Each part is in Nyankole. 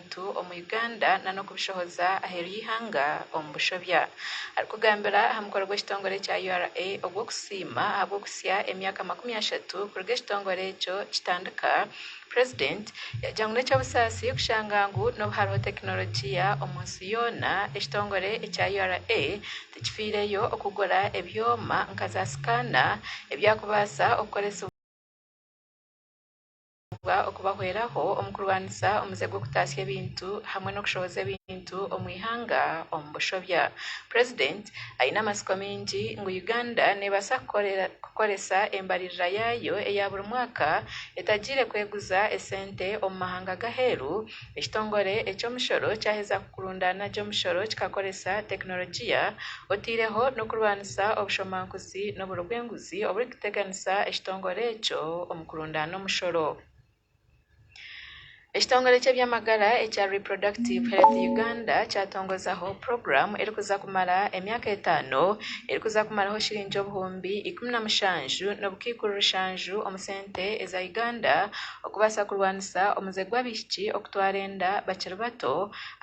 abantu omu Uganda nanokubishohoza aheeru y'eihanga omu bushobya. Arikugambira aha mukoro gw'ekitongore kya ura ogw'okusiima ahabw'okuhitsya emyaka makumi ashatu kuruga ekitongore ekyo kitandika, president yagira ngu n'ekyobusaasi kushanga ngu n'obu hariho tekinologiya omu nsi yoona, ekitongore ekya ura tikifiireyo okugura ebyoma nka za scanner ebyakubaasa okukoresibwa. Nitubaasirwa okubahweraho omu kurwanisa omuze gw'okutaasya ebintu hamwe n'okushohoza ebintu omu ihanga omu bushobya. Purezidenti aine amatsiko maingi ngu Uganda neebaasa kukoresa embaririra yaayo eya buri mwaka etagiire kweguza esente omu mahanga g'aheeru, ekitongore eky'omushoro kyaheza kukurundaana gye omushoro kikakoresa tekinologiya otaireho n'okurwanisa obushomankuzi n'oburo bw'enguzi oburikuteera. kuteganisa ekitongore ekyo omu kurundaana omushoro. Ekitongore ky'ebyamagara ekya Reproductive Health Uganda kyatongozaho puroguramu erikuza kumara emyaka etaano erikuza kumaraho shiringi obuhumbi ikumi na mushanju n'obukaikuru bushanju omu sente eza Uganda okubaasa kurwanisa omuze gw'abaishiki okutwara enda bakiri bato,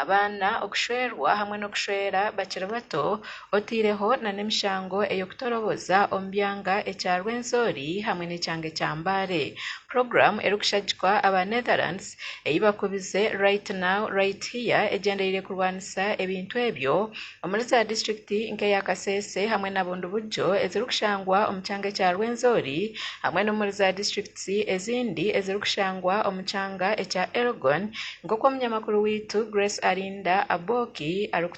abaana okushwerwa hamwe n'okushwera bakiri bato. otaireho nana emishango ey'okutoroboza omu byanga ekya Rwenzori hamwe n'ekyanga ekya Mbale. Puroguramu erikushagikwa aba Netherlands ei bakubize Right Now, Right Here egyendereire kurwanisa ebintu ebyo omuri za disiturikiti nk'eya Kasese hamwe na Bundibugyo ezirikushangwa omu kyanga ekya Rwenzori hamwe n'omuri za disiturikiti ezindi ezirikushangwa omu kyanga ekya Elgon nk'oku omunyamakuru waitu Grace Arinda Aboki arikutuhaburira.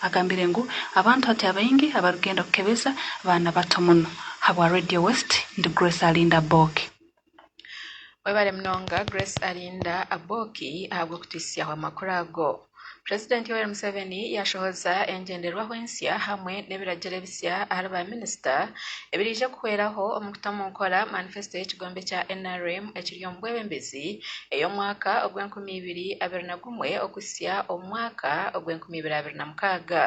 Agambire ngu abantu hati abaingi abarikugenda kukebeza baana bato muno. Habwa Radio West ndi Grace Alinda Aboki. Webare munonga Grace Alinda Aboki ahabw'okutwitsyaho amakuru ago. President Yoweri Museveni yashohoza engyenderwaho ensya hamwe n'ebiragiro ebisya ahari ba minisita ebiraije kuhweraho omu kuta omu nkora manifesto y'ekigombe kya nrm ekiri omu bwebembezi, ey'omwaka ogw'enkumi ibiri abiri na gumwe okuhitsya omu mwaka ogw'enkumi ibiri abiri na mukaaga.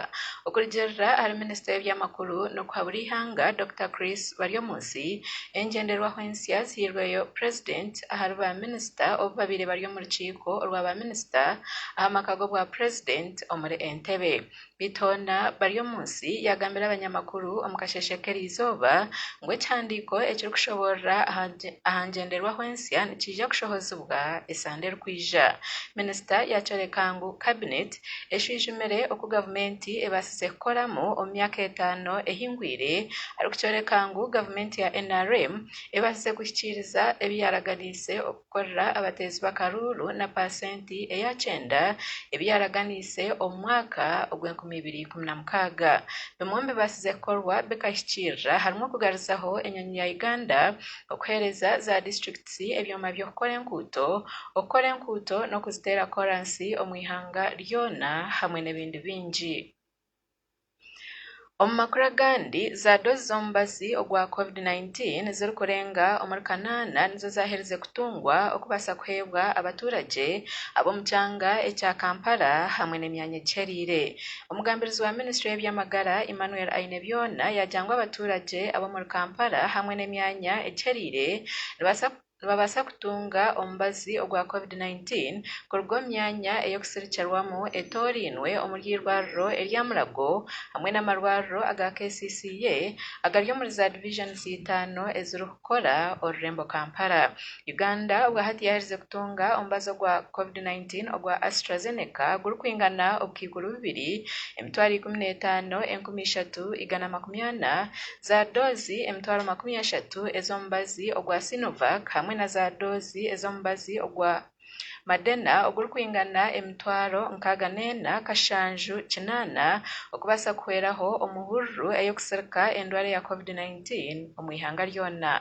Okurugiirira ahari minisita w'eby'amakuru n'okuhabura eihanga Dokita Chris Baryomunsi, engyenderwaho ensya zihairweyo purezidenti ahari ba minisita obu babaire bari omu rukiiko orwa ba minisita aha maka g'obwa purezidenti omuri Entebbe. Bitonda Baryomunsi yaagambira abanyamakuru omu kasheeshe k'erizooba ngu ekihandiiko ekirikushoboorora aha ngyenderwaho ensya nikiija kushohozibwa esande erikwija. Minisita yaakyoreka ngu Kabineeti eshwijumire oku gavumenti ebaasize kukoramu omu myaka etaano ehingwire arikukyoreka ngu gavumenti ya nrm ebaasize kuhikiiriza ebi yaaraganiise. kukorera abateezi b'akaruuru na paasenti eya kyenda ebi yaaraganiise omu mwaka ogw'enkumi ibiri ikumi na mukaaga. Bimwe omu bibaasize kukorwa bikahikiirira harimu okugaruzaho enyonyi ya Uganda, okuheereza za disiturikiti ebyoma by'okukora enkuuto, okukora enkuuto n'okuziteera kooransi omu ihanga ryona hamwe n'ebindi bingi. Omu makuru agandi, zaadozi z'omubazi ogwa Covid-19 zirikurenga omuri kanaana nizo zaaherize kutungwa okubaasa kuheebwa abaturagye ab'omu kyanga ekya Kampala hamwe n'emyanya egihereire. Omugambirizi wa minisitule y'eby'amagara Emmanuel Ainebyona yaagira ngu abaturagye ab'omuri Kampala hamwe n'emyanya egihereire nibaasa kuba. nibabaasa kutunga omubazi ogwa covid nineteen kuruga omu myanya ey'okusirikirwamu etoorainwe omuri eirwariro erya Mulago hamwe n'amarwariro aga kcca agari omuri za division itaano ezirikukora orurembo Kampala. Uganda obwahati yaherize kutunga omubazi ogwa covid nineteen ogwa Astrazeneca gurikwingana obukaikuru bubiri, emitwaro ikumi n'etaano, enkumi ishatu, igana makumi ana, Za doozi emitwaro makumi ashatu ez'omubazi ogwa Sinovac hamwe na za doozi ez'omubazi ogwa Madena ogurikwingana emitwaro nkaaga n'ena kashanju kinaana okubaasa kuhweraho omu hururu ey'okusirika endwara ya covid nineteen omu ihanga ryona.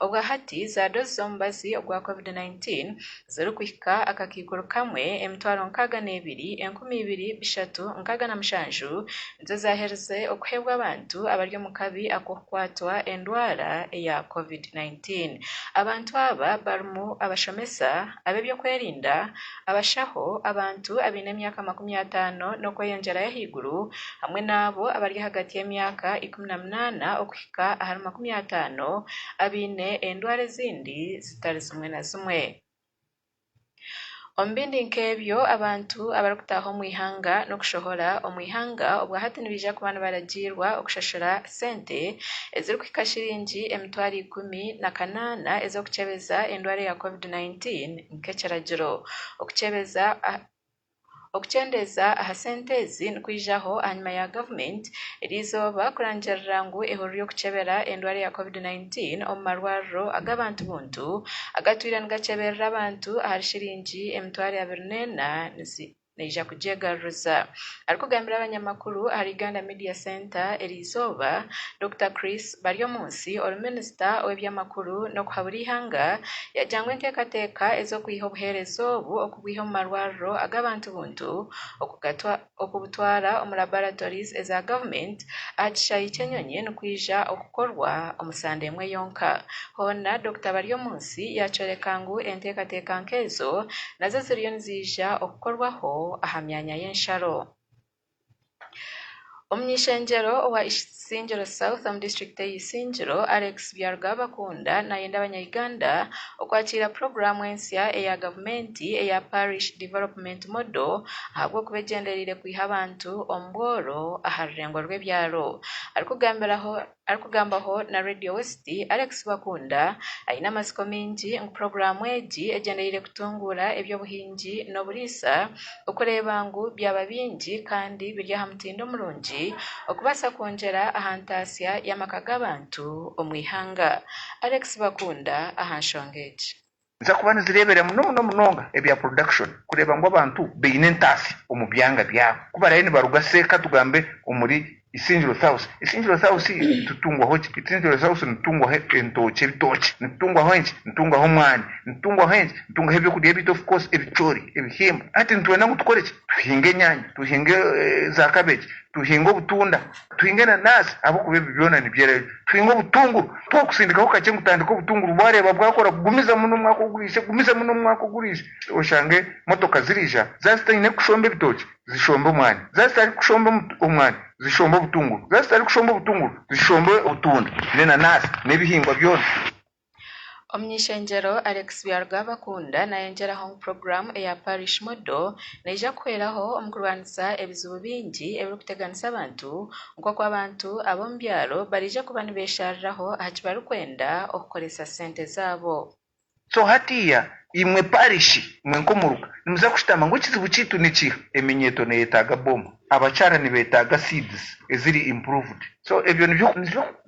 Obwahati za doozi z'omubazi ogwa covid nineteen zirikuhika akakaikuru kamwe, emitwaro nkaaga n'ebiri, enkumi ibiri, bishatu, nkaaga na mushanju, nizo zaaherize okuheebwa abantu abari omu kabi ak'okukwatwa endwara eya covid nineteen. Abantu aba barimu abashomesa, ab'eby'okwerinda, abashaho, abantu abaine emyaka makumi ataano n'okweyongyerayo ahaiguru, hamwe n'abo abari ahagati y'emyaka ikumi na munaana okuhika ahari makumi ataano abaine endwara ezindi. zitari zimwe na zimwe. Omu bindi nk'ebyo abantu abarikutaaha omu ihanga n'okushohora omu ihanga obwa hati nibaija kuba nibaragiirwa okushashura sente ezirikuhika shiringi emitwaro ikumi na kanaana ez'okukyebeza endwara ya covid nineteen nk'ekiragiro. Okukyebeza Okukyendeeza aha sente ezi nikwijaho ahanyima ya gavumenti eri eizooba kurangirira ngu ehurire y'okukyebera endware ya covid 19 omu marwariro ag'abantu buntu agatwire nigakyeberera abantu ahari shiringi emitwaro abiri n'ena neija kugyegaruriza. Arikugambira abanyamakuru ahari Uganda Media Centre eri eizooba, Dokita Chris Baryomunsi ori minisita ow'ebyamakuru n'okuhabura eihanga yagira ngu enteekateeka ez'okwiha obuheereza obu kubwiha omu marwariro ag'abantu buntu okubutwara omu laboratories eza government aha kishaayi ky'enyonyi nikwija okukorwa omu sande emwe yonka. Hoona Dokita Baryomunsi yakyoreka ngu enteekateeka nk'ezo nazo ziriyo niziija okukorwaho aha myanya y'ensharo. Omuny'ishengyero owa Isingiro South omu district eye Isingiro Alex Byarugaba Kunda nayenda abanya Uganda okwakiira puroguramu ensya eya gavumenti eya Parish Development Model ahabw'okuba egyendereire kwiha abantu omu bworo aha rurengo rw'ebyaro. Arikugambira Arikugambaho na Radio West, Alex Bakunda aine amatsiko maingi ngu puroguraamu egi egyendereire kutunguura eby'obuhingi n'oburiisa okureeba ngu byaba bingi kandi biri aha mutindo murungi okubaasa kwongyera aha ntaasya y'amaka g'abantu omu ihanga. Alex Bakunda aha nshonga egi. Niziza kuba nizireebera muno muno munonga ebya production kureeba ngu abantu baine entaatsi omu byanga byabo ku baraabe nibaruga say ka tugambe omuri Isingiro South. Isingiro South nitutungwaho ki? Isingiro South nitutungwaho entookye, ebitookye, nitutungwaho enki? Nitutungwaho omwani, nitutungwaho enki? Nitutungwaho eby'okurya byaitu of course, ebicoori, ebihimba. Hati nitwenda ngu tukore ki? Tuhinge enyaanya, tuhinge za cabbage, tuhinge obutunda. Twinga enanasi ahabw'okuba ebi byona nibyerayo. Twinga obutunguru. Mpaho kusindikaho kakye ngu tandika obutunguru bwareeba bwakora gumiza muno omwaka oguriije, gumiza muno omwaka oguriije oshange motoka ziriija za zitaine kushomba ebitookye zishombe omwani, za zitari kushomba omwani zishombe obutunguru, za zitari kushomba obutunguru zishombe obutunda, n'enanasi n'ebihingwa byona. Omuny'ishengyero Alex Byarugabakunda nayongyeraho ngu puroguramu eya Parish Model neija kuhweraho omu kurwanisa ebizibu bingi ebirikuteganisa abantu nk'oku abantu ab'omu byaro bariija kuba nibeshariraho aha ki barikwenda okukoresa sente zaabo. So hatiiya imwe Parishi, imwe nk'omuruka nimuza kushutama ngu ekizibu kyaitu nikiha? Eminyeeto neyetaaga bomu, abakyara nibetaaga seeds eziri improved. So ebyo nibyo.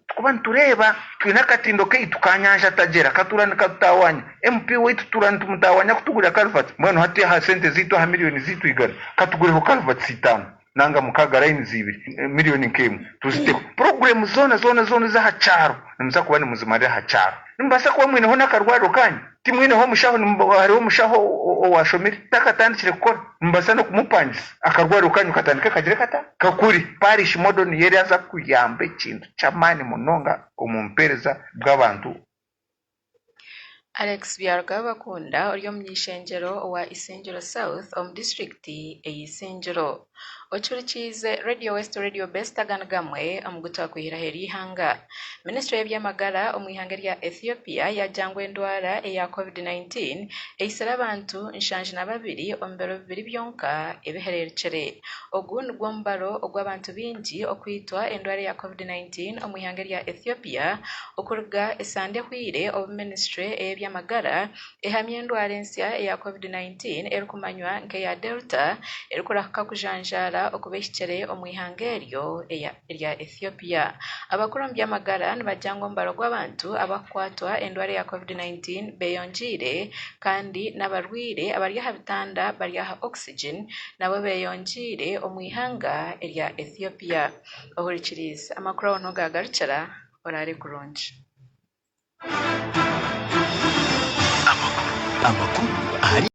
Tikuba nitureeba twine akatindo kaitu ka nyanja tagyera katura nikatutaawanya. MP waitu tura nitumutaawanya kutugurira culverts. Mbwenu hati aha sente zaitu aha million zaitu igana katugureho culverts itaano nanga mukaaga lines ibiri million nk'emwe tuziteho. Program zoona zoona zoona ez'aha kyaro nimuza kuba nimuzimarira aha kyaro. Nimubaasa kuba mwineho n'akarwariro kaanyu. Timwineho omushaho? Nimubaho hariho omushaho owaashomire? Takatandikire kukora? Nimubaasa n'okumupangisa akarwariro kaanyu katandike kagire kata? Ka kuri, Parish Model niyo eraaza kuyamba ekintu ky'amaani munonga omu mpeereza bw'abantu. Alex Byarugabakunda ori omuny'ishengyero owa Isingiro South omu disiturikiti ey'Isingiro. Ocurikiize Radio West Radio Best aga ni gamwe omu gu twakwihiraho eri ihanga. Minisitule y'eby'amagara omu ihanga erya Ethiopia yaagira ngu endwara eya covid 19 eitsire abantu nshanju na babiri omu biro bibiri byonka ebihereerukire. Ogu nigwo mubaro ogw'abantu baingi okwitwa endwara eya covid 19 omu ihanga erya Ethiopia okuruga esande ehweire obu minisitule ey'eby'amagara ehamya endwara ensya eya covid nineteen erikumanywa nka eya Delta erikurahuka kujanjaara okuba ehikire omu ihanga eryo erya Ethiopia. Abakuru omu by'amagara nibagira ngu omubare gw'abantu abarikukwatwa endwara eya covid nineteen beyongiire kandi n'abarwaire abari aha bitanda bari aha oxygen nabo beyongiire omu ihanga erya Ethiopia. Ohurikiriize amakuru ahu niho gagarukira, oraare kurungi. Amakuru ahari